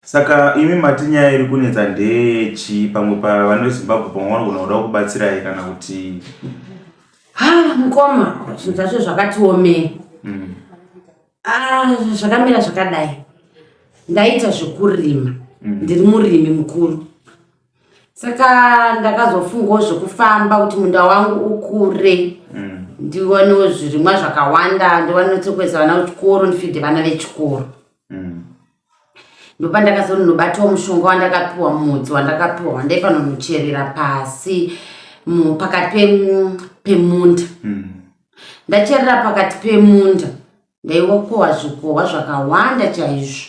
Saka imi mati nyaya iri kunetsa ndeyechi pamwe pavana vezimbabwe pamwe vanogona kuda kubatsirai kana kuti ha mukoma zvinhu zvacho zvakatiomei mm. ah, zvakamira zvakadai ndaita zvekurima mm. ndiri murimi mukuru saka ndakazofungawo zvekufamba kuti munda wangu ukure mm. ndiwanewo zvirimwa zvakawanda ndiwane tsokuedza vana vechikoro ndifidhe vana vechikoro ndopandakazonobatawo mushonga wandakapiwa mudzi wandakapiwa wandaifanonocherera pasi pakati pemunda hmm. ndacherera pakati pemunda ndaiwakowa zvikowa zvakawanda chaizvo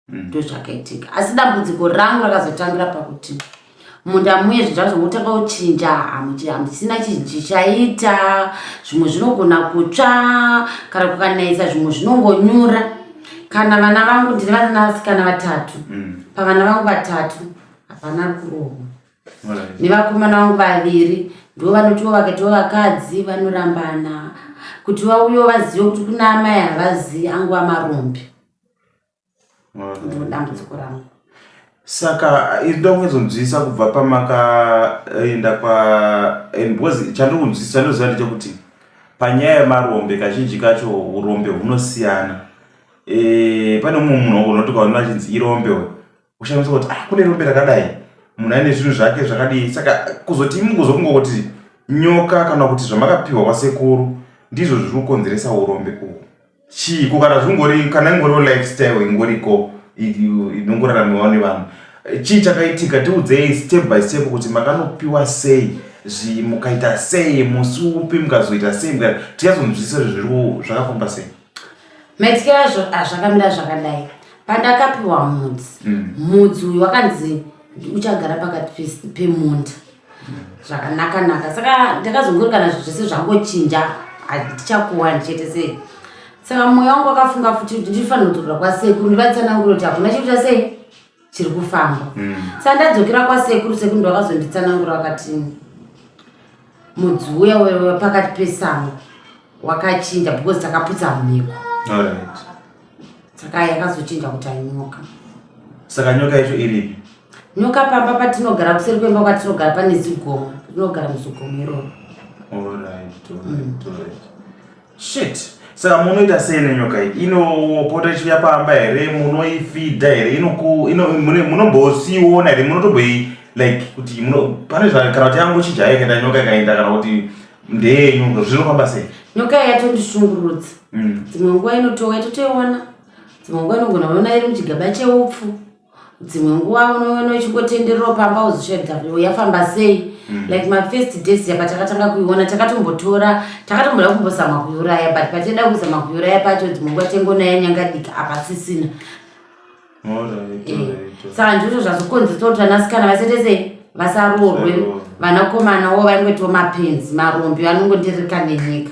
hmm. ndozvakaitika asi dambudziko rangu rakazotangira pakuti munda muye zvinhu zvazvo motanga kuchinja hamuchisina chichaita zvimwe zvinogona kutsva kana kukanayisa zvimwe zvinongonyura kana vana vangu ndine vana vasikana vatatu mm. pavana vangu vatatu hapana kurohwa nevakomana vangu vaviri ndo vanotiwo vakatiwo vakadzi vanorambana kuti vauyewo vazive kuti kuna amai havazivi anguva marombe ndiro dambudziko rangu saka iri ndoda kunyatsokunzwisisa kubva pamakaenda kwa and because chandokunzwisisa ndoziva ndechekuti panyaya yemarombe kazhinji kacho urombe hunosiyana e, pane mumwe munhu wangonoti kwaona achinzi irombe uyo uchanzwa kuti ah kune rombe rakadai munhu aine zvinhu zvake zvakadii saka kuzoti imi kuzokunga kuti nyoka kana kuti zvamakapiwa kwasekuru ndizvo zviri kukonzeresa urombe uhu chii ko kana zvingori kana ingoriwo lifestyle ingoriko inongoraramiwa nevanhu chii chakaitika tiudzei step by step kuti makanopiwa sei mukaita sei musi upi mukazoita sei tichazonzwisisa zviri zvakafamba sei maitike azvo azvakamira zvakadai pandakapiwa mudzi mm. mudzi uyu wakanzi uchagara pakati pemunda zvakanaka naka saka ndakazongorikana zvo zvese zvangochinja handichakuwani chete sei saka mwoyo wangu wakafunga futi kuti ndifanira kudzokera kwasekuru ndivatsananguro kuti hakuna chekuita sei chiri kufamba mm. sandadzokera kwasekuru sekuru ndovakazonditsanangura vakati mudzi uya wepakati pesango wakachinja because takaputsa mhiko saka yakazochinja kuti ainyoka saka nyoka yacho iripi nyoka pamba patinogara kuseri kwemba kwatinogara pane zigoma tinogara muzigomo iroro Shit. Saka munoita sei nenyoka iyi? Inopota ichiuya pamba here? Munoifida here? Inoku ino mune munombosiona here? Munotoboi like kuti muno pane zva kana kuti yangu chija yake da nyoka ikaenda kana kuti ndeyenyu zvinofamba sei? Nyoka yatondishungurudza. Mm. Dzimwe nguva inotouya totoiona. Dzimwe nguva inogona kuona iri muchigaba cheupfu. dzimwe nguva unoona uchingotenderero pamba uzisvedzavo yafamba sei mm. like mafirst days yapa takatanga kuiona takatombotora takatomboda kumbozama kuiuraya but patida kuzama kuiuraya pacho dzimwe nguva tengonaya nyangadika hapasisina eh, saka ndizvo zvazokonzeresa kuti vanasikana vasetese vasaroorwe vanakomana wo vaingotiwo mapenzi marombi anongondirika nenyika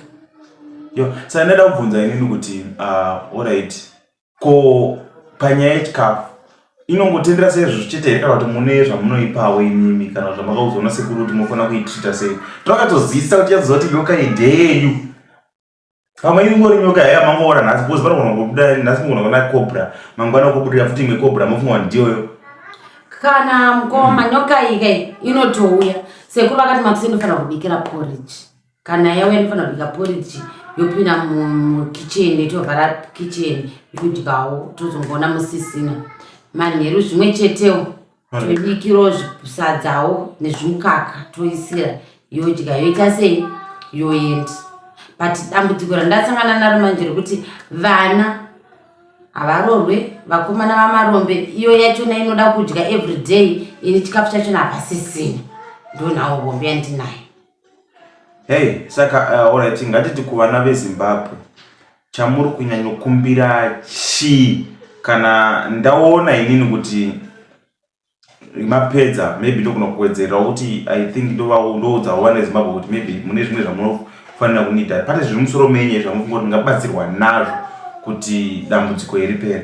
yo saka ndaida kubvunza inini kuti uh, orit ko panyaya yechikafu inongotendera seizvozvo chete here kana kuti mune zvamunoipawo imimi kana kuti zvamakaudzwa nasekuru kuti mofanira kuitrita sei trakatozivisa kuti yaziva kuti nyoka ideyu pamwe ingori nyoka yaiya mangoona nhasi bcause panogona kubuda nhasi mugona kuona cobra mangwana kubudirira futi imwe cobra mofunga kuti ndiyoyo kana mukoma nyoka ika inotouya sekuru vakati makusinofanira kubikira porridge kana yauya inofanira kubika poriji yopinda mukitchen itovhara kitchen yodyawo tozongoona musisina manheru zvimwe chetewo tobikiro sadzawo nezvimukaka toisira yodya yoita sei yoendi but dambudziko randasangana naro manje rekuti vana havarorwe vakomana vamarombe iyo yachona inoda kudya every day ini chikafu chachona hapasisina ndonhawo hombe yandinayo Hey, saka uh, alright ngatiti kuvana vezimbabwe chamuri kunyanyokumbira chii kana ndaona inini kuti mapedza maybe ndogona kuwedzerera kuti i think ndoudzawo vana vezimbabwe kuti maybe mune zvimwe zvamunofanira kunida pane zviri musoro menye zvamufunga kuti ngabatsirwa nazvo kuti dambudziko iri pera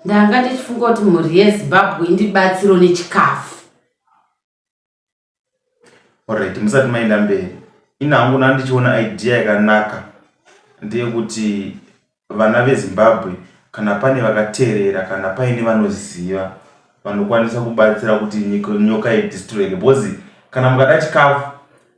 ndanga ndichifunga kuti mhuri yezimbabwe indibatsiro nechikafu Alright, musati maenda mberi, ini hangu ndanga ndichiona idea yakanaka ndeyekuti vana veZimbabwe kana pane vakateerera kana paine vanoziva vanokwanisa kubatsira kuti nyoka idhistroweke because kana mukada chikafu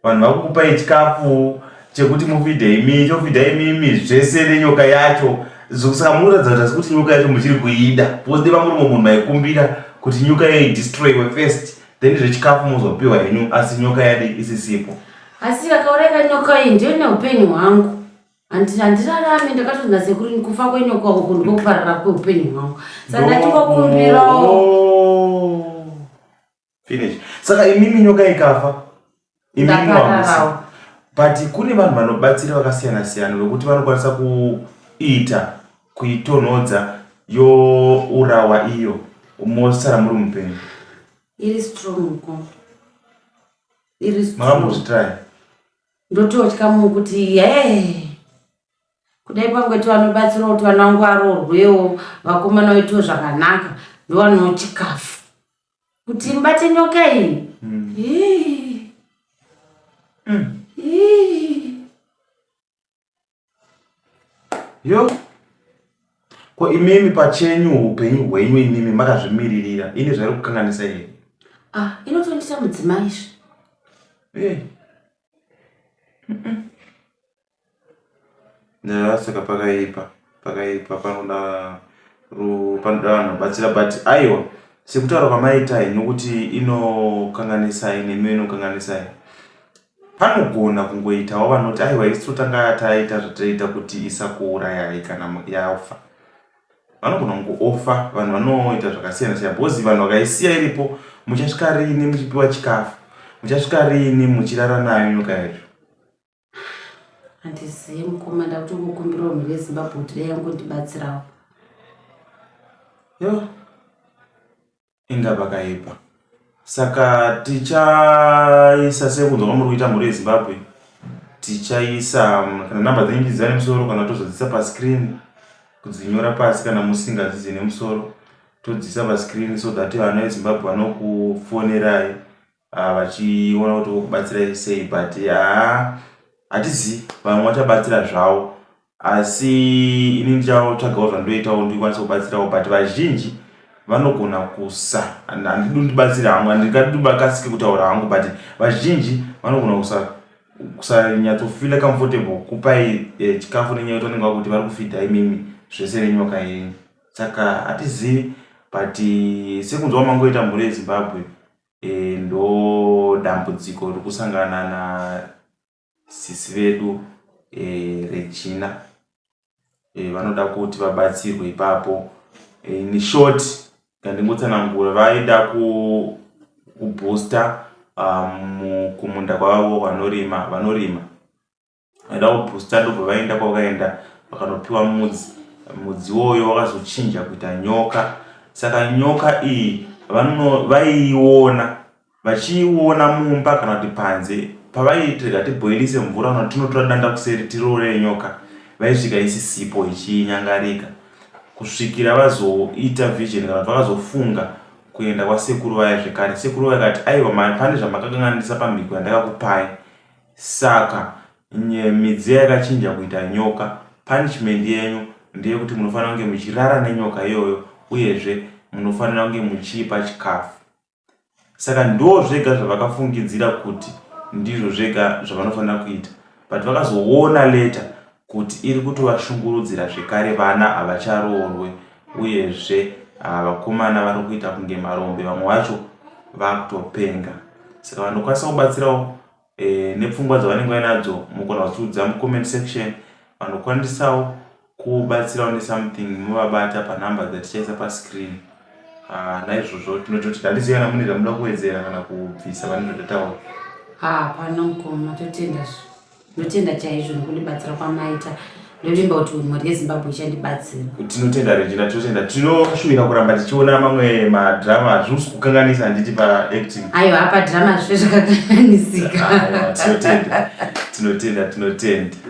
vanhu vakukupai chikafu chekuti mufidha imi chofidha imimi zvese nenyoka yacho zvokusaka munoratidza kuti asi kuti nyoka yacho muchiri kuida because deva muri mwe munhu maikumbira kuti nyoka yayo idestroywe first then zvechikafu mozopiwa henyu asi nyoka yadi isisipo asi vakaureka nyoka iyi ndiyo neupenyu hwangu handirarame ndakatonzi nasekuru kufa kwenyoka uku ndikokuparara kweupenyu hwangu saka ndativokumbirawo finish saka imimi nyoka ikafa imimi wamusa but kune vanhu vanobatsira vakasiyana siyana vekuti vanokwanisa kuita kuitonhodza yourawa iyo mosara muri mupenyu iri strong ko iri strong makambozvitrai ndototya munhu kuti hee kudai pangweti vanobatsirawo kuti vana wangu varoorwewo vakomana vaitiwo zvakanaka ndovanoo chikafu kuti mbate nyoka iyi yo ko imimi pachenyu upenyu hwenyu imimi makazvimiririra ini zvairi kukanganisa here ah, inotondisa mudzimai izvi eh. Yeah, saka pakaipa pakaipa panoda panoda vanhu batsira but aiwa sekutaura kwamaitai nokuti inokanganisai nemi inokanganisai panogona kungoitawo vanoti aiwa isu totanga taita zvataiita kuti isakuurayai kana yafa vanogona kungoofa vanhu vanoita zvakasiyana siyana bhozi vanhu vakaisiya iripo muchasvika riini muchipiwa chikafu muchasvika riini muchirara nayo nyoka yacho handizive mukoma ndakutongokumbirawo mhuri yezimbabwe kuti dai yangondibatsirawo yo inga pakaipa saka tichaisa sekunzwa kwamuri kuita mhuri yezimbabwe tichaisa mm, kana namba dzenyu ndidzia nemusoro kana tozodzisa pascreen kudzinyora pasi kana musingadzidze nemusoro todzisa pascreen so that vana vezimbabwe vanokufonerai ah, vachiona kuti vokubatsirai sei but haa hatizi vamwe vachabatsira zvavo asi ini ndichatsvagawo zvandoitawo ndikwanisa kubatsirawo but vazhinji vanogona kusa handidi ndibatsire hangu handingadibakasike kutaura hangu but vazhinji vanogona kusa kusanyatsofila comfortable kupai eh, chikafu nenyaya yekuti vanenge vakuti vari kufidha imimi zvese nenyoka yenyu saka hatizivi but eh, sekunzwa mangoita mhuri yezimbabwe e, ndo dambudziko riri kusangana na sisi vedu e, regina e, vanoda kuti vabatsirwe ipapo e, in short kandingotsanangura vaida ku, kubooster um, kumunda kwavo vanorima vanorima vaida kubhusta ndobva vaenda kwavakaenda vakanopiwa mudzi mudzi woyo wakazochinja kuita nyoka saka nyoka iyi vaiiona vachiiona mumba kana kuti panze pavaitirega tibhoilise mvura kana tinotora danda kuseri tiroore nyoka vaisvika isisipo ichinyangarika kusvikira vazoita vision kana kuti vakazofunga kuenda kwasekuru vaya zvekare sekuru vaya kati aiwa pane zvamakakanganisa pamhiko yandakakupai Saka ny midziya yakachinja kuita nyoka. Punishment yenyu ndeyekuti munofanira kunge muchirara nenyoka iyoyo uyezve munofanira kunge muchiipa chikafu. Saka ndozvega zvavakafungidzira kuti ndizvo zvega zvavanofanira kuita but vakazoona later kuti iri kutovashungurudzira zvekare vana havacharoorwe uyezve ah, vakomana vari kuita kunge marombe vamwe vacho vakutopenga saka vanokwanisa kubatsirawo e, nepfungwa dzavanenge vainadzo mukona kuziudza mucomment section vanokwanisawo kubatsirawo nesomething movabata panumber dzatichaisa pascreen ah, naizvozvo tinototi dandiziva kana mune zvamuda kuwedzera kana kubvisa pane zvatataura hapana ah, mukoma totenda ndotenda chaizvo nokundibatsira kwamaita ndovimba kuti mhuri yezimbabwe ichandibatsira tinotenda regina tinotenda tinoshuvira kuramba tichiona mamwe madrama hazvisi kukanganisa handiti paacting ayo apa drama zve zvakakanganisika tinotenda tinotenda tinotenda